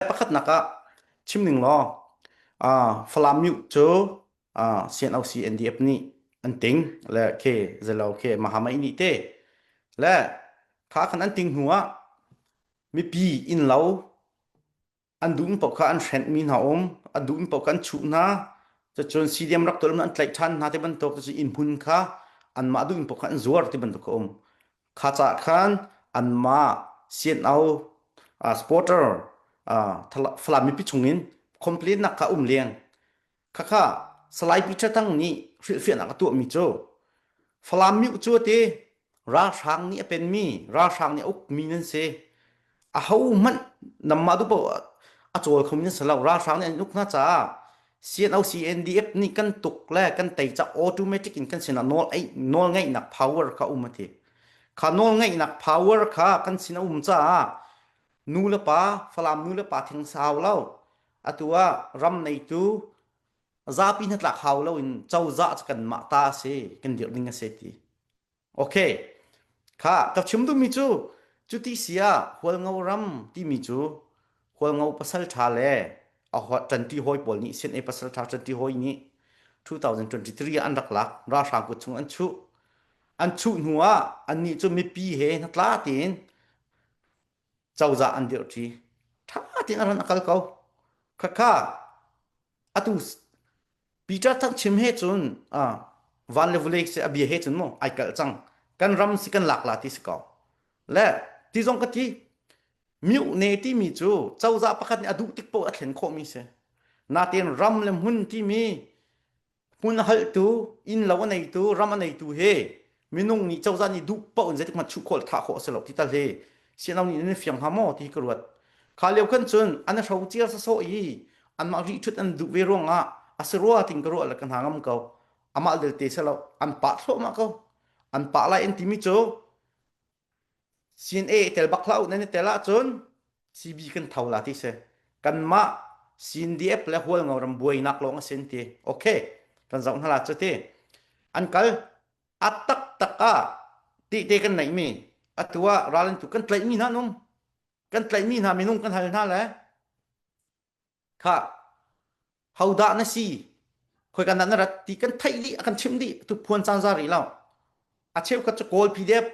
pakhatnak ah chim ning law Falam myu cu CNOC NDF nih an ting le ke zelo ke mahamai nih te le kha kan an ting hnu ah mipi inlo an dum pok kha an hrent mi hna um an dum pok kan chu hna cun CDM rak tolum an tlaih than hna te bantuk cu in hun kha an mah dum pok kha an zuar te bantuk ka um Kha cah khan anmah CNO uh, supporter uh, Falam mipi chungin complaint nak kha um leng khakha salai Peter Thang nih hrilhfiahnak a tuah mi cu Falam mi cu te ralhrang nih a pen mi ralhrang nih a uk mi nan si ahohmanh nanmah tu paoh a cawl khomi nan si lo. Ralhrang nih an uk hna caah CNOC-CNDF nih kan tuk le kan tei ca automatic in kan sinah nawl ei nawl ngeihnak power kha um a ti. Kha nawl ngeihnak power kha kan sin a um caah nu le pa Falam nu le pa theng sau lo atu ah ram neitu zapi hnatlak hau lo in cozah cu kanmah ta a si kan dirh ding a si ti. Ok, kha ka chim duhmi cu cuti si ah Hualngo ram timi cu Hualngo pasalṭha le a hua- ṭanṭi hawi pawl nih CNA pasalṭha ṭanṭi hawi nih 2023 ah an rak lak ralhrang kut chung an chuh an chuh hnu ah annih cu mipi he hnatla tein cozah an dirhṭi ṭha tein a ran a kal ko khakha atu Peter thang chim he cun uh, van le vulei se a bia he cun mu ai kal cang kan ram si kan lak la ti si ko le ti zong ka ti miu ne ti mi cu cozah pakhat nih a duh tik po a thlen khawh mi si natin ram le hmun ti mi Hmun a halhtu, innlo a neitu, ram a neitu hi minung nih cozah nih duh paoh in zeitik hmanh chuh khawh le thah khawh a si lo ti tal hi siano nih nan fiang hnga maw ti hi ka ruat. Kha lio khan cun an i hro cia sawsawh i anmah ríhṭhut an duh ve ruangah a si rua tin ka ruah le ka hna ngam ko. Amah delte si lo, an pah thluahmah ko. An pah lai an timi cu Sin e tel bak hlah u nan i tel ahcun CB kan tho la ti si. Kanmah CNDF le Hualngo ram buainak lawng a si an ti. Ok, kan zoh hna la cu ti. An kal a taktak ah ti te kan neihmi atu ah ral an tu kan tlaihmi hna nung kan tlaihmi hna minung kan hal hna le kha hodah na si khoika nan rat ti kan theih dih a kan chimh dih tu phuan caan za rih lo a cheukhat cu kawl pdf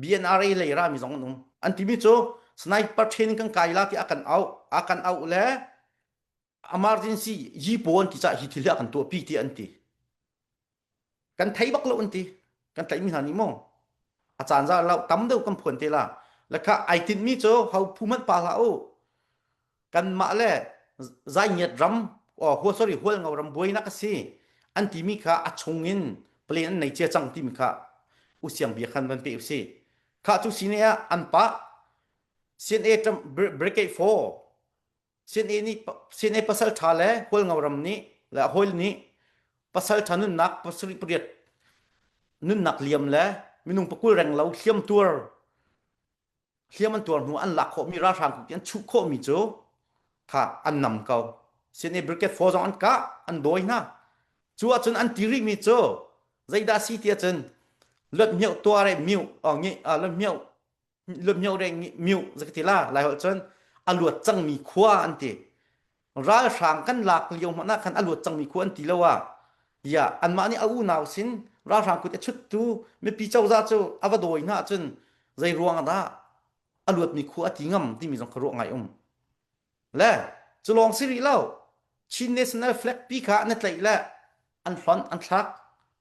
bnra lei ra mi zong an um an timi cu sniper training kan kai la ki akan au akan au le emergency yi pawn ti ca hi thil hi a kan tuah pi ti an ti kan thei bak lo an ti kan tlaih mi hna nih maw a caan za lo tam deuh kan phuan te la lekha ai tinh mi cu ho phu manh pa hla u kan mah le zai ngiat ram o hua sorry hual ngau ram buai nak asi an ti mi kha a chung in plan an nei che chang ti mi kha u siang bia khan van pe u si kha chu sine ah an pa CNA Trump brigade 4 Sinai nih Sinai pasal ṭha le hualngo ram nih le a hawile nih pasal ṭha nunnak pasarih pariat nunnak liam le minung pakul reng lo hliam tuar hliam an tuar hnu an lak khawhmi ralhrang kut an chuh khawhmi cu kha an nam ko Sinai brigade four zong an kah an dawi hna cu ahcun an ti rihmi cu zeidah si ti ahcun lot mioh tuar e mioh ngi lot mioh lumhio reng miu zak ti la lai ho cun a luat cangmi khua an ti ralhrang kan lak lio hmana khan a luat cangmi khua an ti lo ah ya anmah nih a unau sin ralhrang kut a chuttu mipi coza cu a va dawi hna cun zei ruang dah a luatmi khua a ti ngam timi zong kha ruah ngai um le cu lawng si rih lo Chin national flag pi kha an tlaih le an hlon an thlak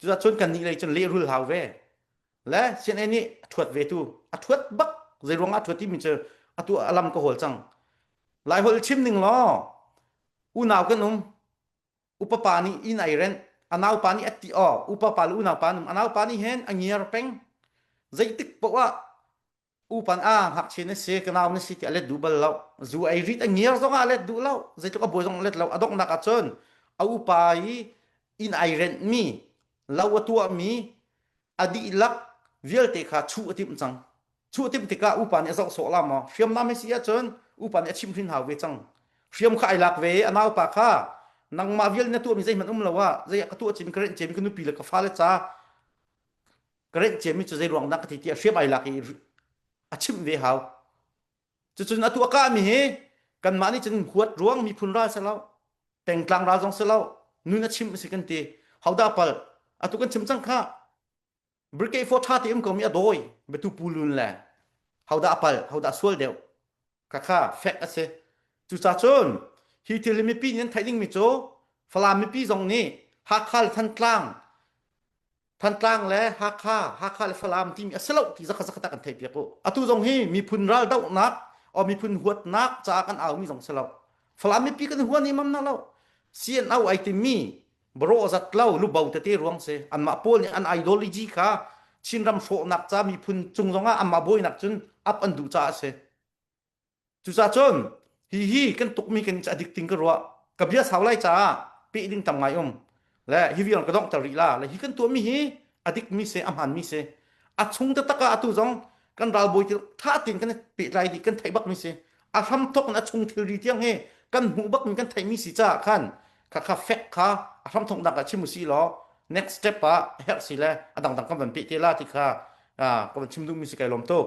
Cucun cun kannih lei cun lehrul hau ve. Le CNA nih a thuat ve tu. A thuat bak. Zei ruang ah a thuat timi cu atu a lam ka hawl cang. Lai holh chim ning law unau kan um. Upapa nih in ai rent. A naupa nih atti o. Upapa le unaupa num. A naupa nih hen a ngiar peng. Zeitik poah upan ah ngakchia na si kanau na si ti a let duh bal lo zu ei rit a ngiar zong ah let duh lo zeitluk a buai zong let lo a donghnak ahcun a upa i in ai rent mi lo a tuah mi a dihlak vialte kha chu a timh cang chu a timh tikah upa nih a zoh sawh la maw hriam nam hi si ahcun upa nih a chim hrin hau ve cang hriam kha ai lak ve a naupa kha nangmah vial na tuah mi zeihmanh um lo ah zei ka tuah cin ka renh cem ka nupi le ka fale ca ka renh ciami cu zei ruang dah ka thi tiah hriam ai lak i a chimh ve hau cucun atu a kahmi hi kanmah nih cun huat ruang miphun ral si lo tengtlang ral zong si lo nun a chimh si kan ti hauda pal atu kan chim cang kha brigade for tha ti um komi a dawi betu pulun le hauda apal hauda sual deuh Khakha fact a si. Cucacun hi thil hi mipi nih an theih dingmi cu Falam mipi zong nih Hakha le Thantlang Thantlang le Hakha, Hakha le Falam timi a si lo ti zakhat zakhat ah kan theihpiak u. Atu zong hi miphun raldohnak or miphun huatnak caah kan aumi zong si lo. Falam mipi kan huan imam na lo. CNO ai timi Barawh zat lo lubo tete ruang se anmah pawl nih an ideology kha Chinram hrawhnak ca miphun cung zongah anmah buainak cun up an duh caah a si. Cucaah cun hi hi kan tukmi kan i adik ting ka ruah ka bia sau lai caah peh ding tam ngai um le hi vial ka dongh ter rih la le hi kan tuahmi hi a dikmi se a hmaanmi se a chung taktak ah atu zong kan ralbawi til tha tein kan pehtlai dih kan theih bak mi si a hram thok in a chung thilri tiang he kan hmuh bak mi kan theih mi si caah khan kha kha fek kha a hram thok nak ah chim si law next step ah herh si le a dangdang kan van peh te la ti kha ka van chim duh mi si kai lom tuk